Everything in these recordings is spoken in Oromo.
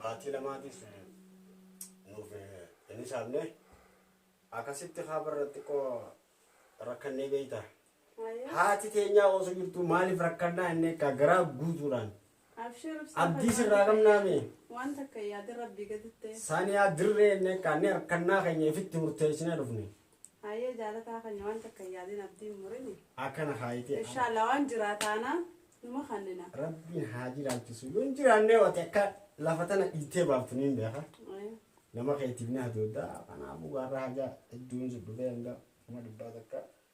baatii lamaatiif nuuf hin hisaabne akkasitti haaba irratti xiqqoo rakkannee beeyta Haati teenyaa ooso jirtuu maaliif rakkannaa inni akka garaa guutuudhaan. Abshir ibsaa Abdii sirraa qabnaa mee. Waan takka yaadin rabbii gaditti. Saaniyaa dirree inni akka inni harkannaa keenya ifitti murteessinee dhufne. Hayyee jaalataa keenya waan takka yaadin abdiin murini. Akkana haayitee. Inshaallah waan jiraa taanaa numa kannina. Rabbiin haa jiraachisu. Yoo hin jiraannee wati akka lafa tana dhiitee baaftu ni hin beeka. Nama keetiif ni hadooddaa. Kanaafuu gaarraa hajaa hedduun si dhufee hanga kuma dhibbaa takka.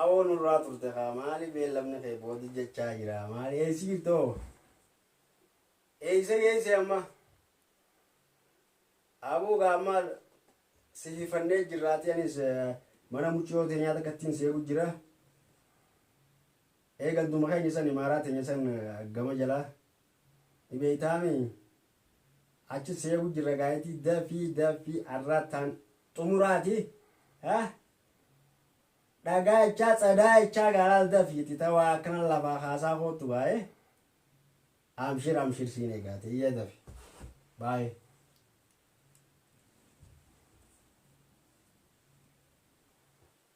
Awoo nurraa turte kaa maali beellamni kee boodi jechaa jira maali eessi jirta hoo eessa geesse amma abuu gaa amma sififannee jirraati anis mana muciyoo teenyaa takkattiin seegu jira ee ganduma keenya san imaaraa teenya san gama jalaa ni beeytaami achi seegu jirra gaayitii dafii dafii arraataan xumuraati ha dhagaachaa tsadaachaa gaalaal dafiiti ta waa akkana lafaa kaasaa koottu baayee amshir amshir siin egaate iyya dafi baayee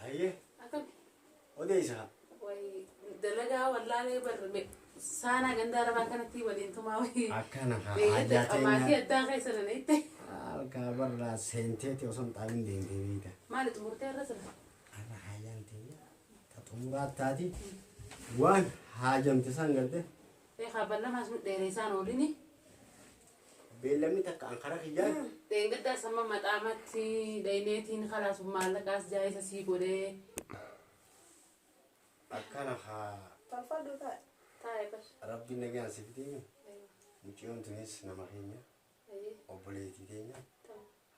Hayyee Akkam odeessaa. wayii dalagaa wallaalee barre saanaa gandaa rabaa kanatti waliin tumaa wayii. Akkana kaa Eeyyatti haajaa qabaatii teenya. addaa keessa na hitte. Alkaa barraa seenteeti osoo hin xaabin deemtee beekta. Maali xumurtee irra sila? Har'a haajaan teenya ta xumuraa taati waan haajamte san galte Eegaa ballamaa sun dheereessaan oolini. Beellamni takka an karaa kiyyaan. Dheengaddaa samma maxaamatti dhayneetiin kalaas maallaqaas jaayisa sii godhee. Akkana haa. Tolfadhu taa'e. Taa'e bar. Rabbiin nagaan si fidee. Mucayyoon tunis nama keenya. Obboleettii teenya.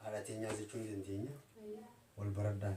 Haadha teenyaa jechuu ni dandeenya. Wal baraddaan.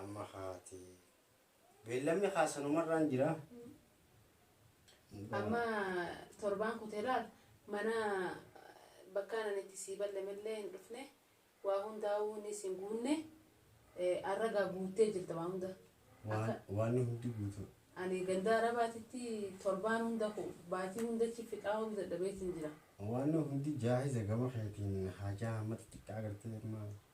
Amma kaate. Beellamni kaa sanumarraan jira. Amma torbaan kutee laal mana bakkaan ani itti sii ballamellee hin dhufne waa hundaa'uu inni siin guunne arra gaa guuttee jirta waa hunda. Akka Waan hundi guutuu. ani gandaa arabaatitti torbaan hunda ku- baatii hundachi fixaa oolu dadhabeetiin jira. Waan hundi jaahiza gama keetiin haajaa hammata xiqqaa agartee amma.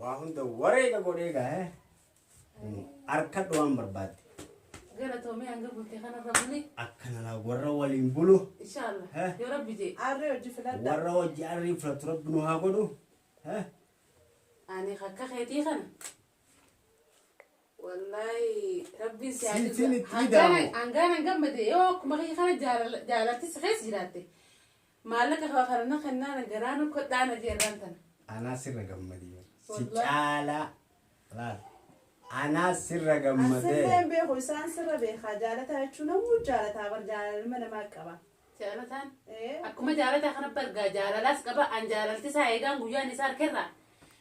Waa hunda wareega godhee gaa'e harkadhu waan barbaadde. Gara toomee hanga bultee kanarra buli. Akkanala warra waliin bulu. Inshaallah. Eh. Yoo rabbi jee. Arri hojii filadha. Warra hojii arrii filatu rabbi nu haa godhu. Eh? Ani akka keetii kana. Wallaahi rabbiin si haa Siitiin jibba. itti Hangaan- ida'amu. Hangaan an gammade yoo akkuma kee kana jaalala- jaalalti si keessa jiraatte. Maallaqa koo kana na kennaana garaa na kodhaana jeerraan tana. Anaa sirra gammadee bara. Si Wallahi. caalaa laal. Anaa sirra gammadee. Asilleen beeku isaan sirra beekaa jaalataa jechuun namuu jaalataa bar jaalala ilma namaa qaba. Jaalataan. Ee. Akkuma jaalataa kana bargaa jaalalaas qaba an jaalalti isaa eegaan guyyaan isaa harkerraa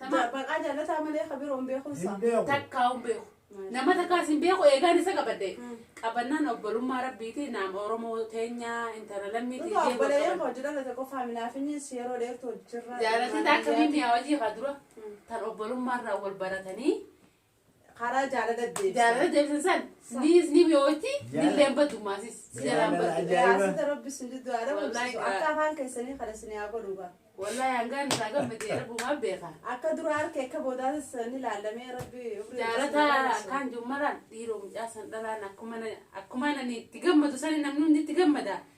Tama- Baqaa jaalataa malee ka biroo hin beeku isaa. Hin beeku. takkaa hin beeku Maashaa nama Allah. takkaas hin beeku eegaan isa qabadhe Mm. qabannaan obbolummaa rabbiiti naam oromoo teenyaa intala lammii Dhugaa tiijee obboleeyyan koo hojii dhalate qofaa minaafinis yeroo dheertu hojjirraa. jaalatee taakka miimmiyaa hojii haa dura Mm. tan obbolummaarraa wal baratanii karaa jaalala deebisan. Jaalala deebisan san niis ni mi'ooti nilleen badumaasis si jalaan baddu. Yaasita rabbi sin diddu haa dhabu akka afaan keessanii kana sin yaa godhu gaa. Wallahi hangaan isaa gammadee rabbumaan beeka. Akka dura harka akka boodaatis ni laallamee rabbi. Jaalata akkaan jummaraan dhiiroo mucaa san dhalaan akkuma nani itti gammadu sani namni hundi itti gammada.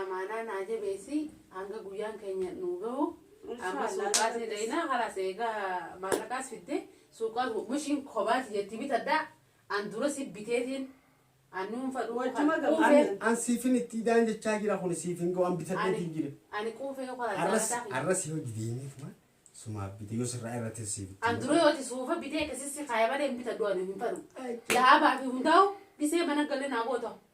Amaanaa naa jabeessi hanga guyyaan keenya nuu gahu amma suuqaas ni dhayinaa halaas eegaa maallaqaas fidde suuqaas mishiin kobaati jetti bitadhaa an dura si biteetiin an nuunfa dhuunfee An siifin itti idaan jechaa jira kun siifin ga'u an bitadheetiin jira. ani quufee yoo karaa Arras jaallataa arras yoo dideemee tumaan sumaaf bite yoo sirraa irratti siif itti. an dura yoo ati suufa bitee akkasissi kaaya malee hin bitadhu ani hin fadhu laabaa fi hundaa'u dhisee mana galee naa goota